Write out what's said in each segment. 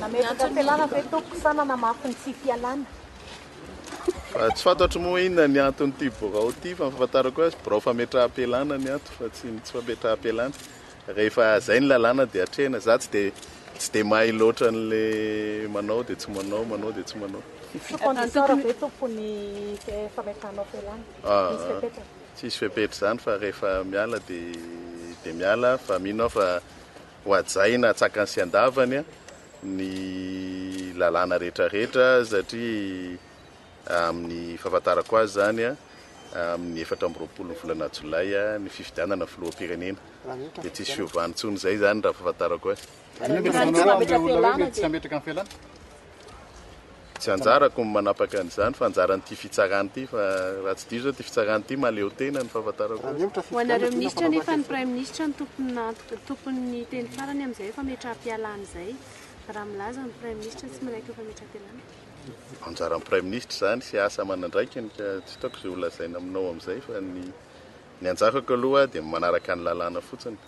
Nametraka fialana ve tompoko sa nanamafy ny tsy fialana? Tsy fantatro moa inona ny anton'ity birao ity fa ny fahafantarako azy birao fametraham-pialana ny ato fa tsy ny tsy fametraham-pialana. Rehefa izay ny lalàna dia atrehina. Za tsy dia tsy dia mahay loatra an'le manao dia tsy manao, manao dia tsy manao. Sous condition raha ve tompoko ny fametrahanao fialana? Misy fepetra? Tsisy fepetra izany fa rehefa miala dia miala fa mino aho fa ho hajaina atsakany sy andavany ny lalàna rehetra rehetra satria amin'ny fahafantarako azy izany amin'ny efatra amby roapolo ny volana jolay ny fifidianana filoham-pirenena dia tsisy fiovana intsony izay izany raha fahafantarako azy. Tsy anjarako ny manapaka an'izany fa anjaran'ity fitsarana ity fa raha tsy diso zao ity fitsarana ity mahaleotena ny fahafantarako azy. Ho anareo minisitra anefa ny praiminisitra no tompon'ny tompon'ny teny farany amin'izay hoe fametraham-pialana izay raha milaza ny praiminisitra tsy miraiky ny fametraham-pialana. Anjaran'ny praiminisitra izany sy asa aman'andraikiny ka tsy hitaoko izay holazaina aminao amin'izay fa ny ny anjarako aloha dia manaraka ny lalàna fotsiny.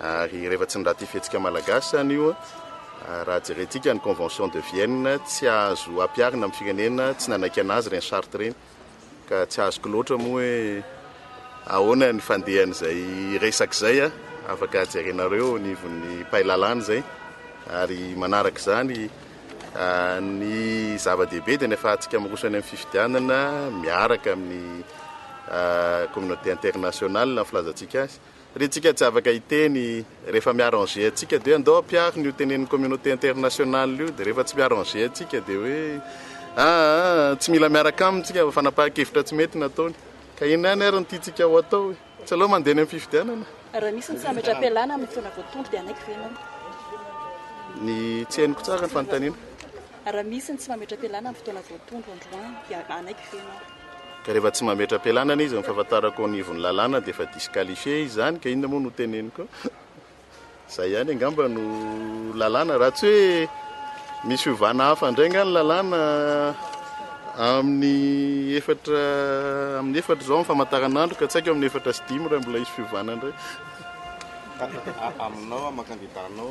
Ary rehefa tsy niraty fihetsika malagasy zany io, raha jerentsika ny convention de Vienne, tsy azo ampiharina amin'ny firenena tsy nanaiky anazy ireny charte ireny. Ka tsy azoko loatra moa hoe ahoana ny fandehan'izay resaka izay, afaka jerenareo eo anivon'ny mpay lalàna izay. Ary manaraka izany, ny zava-dehibe dia ny ahafahantsika miroso any amin'ny fifidianana miaraka amin'ny communauté internationale ny filazantsika azy. Ry tsika tsy afaka hiteny rehefa mi-arranger antsika dia andao ampiaro ny ho tenenin'ny communauté internationale io dia rehefa tsy mi-arranger antsika dia hoe aa tsy mila miaraka aminy tsika fa fanapahan-kevitra tsy mety no ataony ka inona ihany ary no tiantsika ho atao e? Tsy aleo mandeha any amin'ny fifidianana? Raha misy ny famindram-pialana amin'ny fotoana voatondro dia hanaiky ve ianao? Ny tsy henoko tsara ny fanontaniana. Raha misy ny tsy mametra-pialana amin'ny fotoana voatondro androany dia hanaiky ve ianao? Ka rehefa tsy mametra-pialanana izy amin'ny fahafantarako eo anivon'ny lalàna dia efa disqualifié izy izany ka inona moa no hoteneniko eo? Izay ihany angamba no lalàna raha tsy hoe misy fiovana hafa indray angaha ny lalàna amin'ny efatra amin'ny efatra izao amin'ny famantaranandro ka tsy haiko amin'ny efatra sy dimy raha mbola hisy fiovana indray. Aminao, amin'ny kandidànao.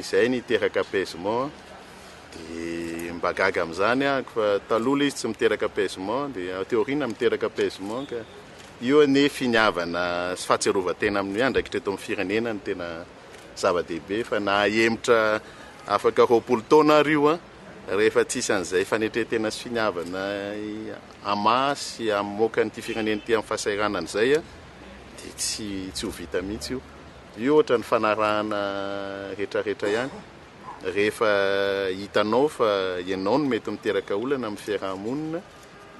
Izay niteraka apaisement dia mba gaga amin'izany aho fa taloha ilay izy tsy miteraka apaisement dia aty aoriana miteraka apaisement ka io anie finiavana sy fahatsiarovan-tena amin'ny andraikitra eto amin'ny firenena no tena zava-dehibe fa na hahemotra afaka roapolo taona ary io an rehefa tsisy an'izay fanetren-tena sy finiavana amin'ny maha sy amin'ny moka an'ity firenena ity amin'ny fahasahiranana izay dia tsy tsy ho vita mihitsy io. Io ohatra ny fanarahana retraretra ihany, rehefa hitanao fa ianao no mety miteraka olana amin'ny fiaraha-monina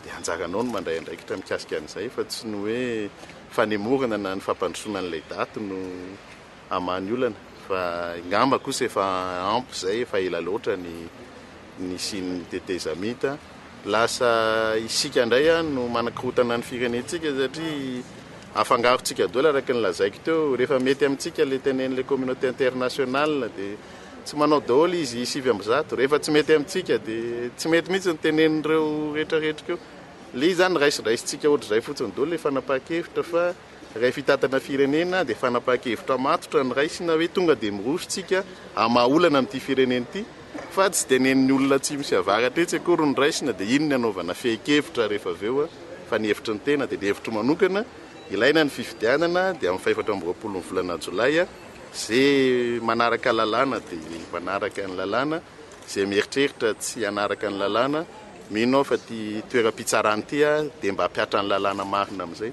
dia anjaranao ny mandray andraikitra mikasika an'izay fa tsy ny hoe fanemorana na ny fampandrosoana an'ilay daty no hamaha ny olana fa ngamba kosa efa ampy izay efa ela loatra ny nisian'ny tetezamita lasa isika indray no manakorotana ny firenentsika satria afangarontsika doela araka ny lazaiko teo, rehefa mety amintsika ilay tenen'ilay communauté internationale dia tsy manao daholo izy sivy amby zato, rehefa tsy mety amintsika dia tsy mety mihitsy ny tenen'ireo rehetrarehetra ireo, ilay izy izany raisindraisintsika ohatr'izay fotsiny daholo ilay fanapahan-kevitra fa. Iray fitantana firenena dia fanapahan-kevitra matotra noraisina hoe tonga dia miroso isika hamaha-olana amin'ity firenena ity fa tsy tenen'ny olona atsimo sy avaratra etsy akory no raisina dia iny ny hanaovana fehin-kevitra rehefa avy eo fa ny hevitry ny tena dia ny hevitro manokana ilaina ny fifidianana dia amin'ny fahefatra amby roapolo ny volana jolay izay manaraka lalàna dia manaraka ny lalàna izay mieritreritra tsy hanaraka ny lalàna mino aho fa ity toeram-pitsarana ity dia mba hampiatra ny lalàna marina amin'izay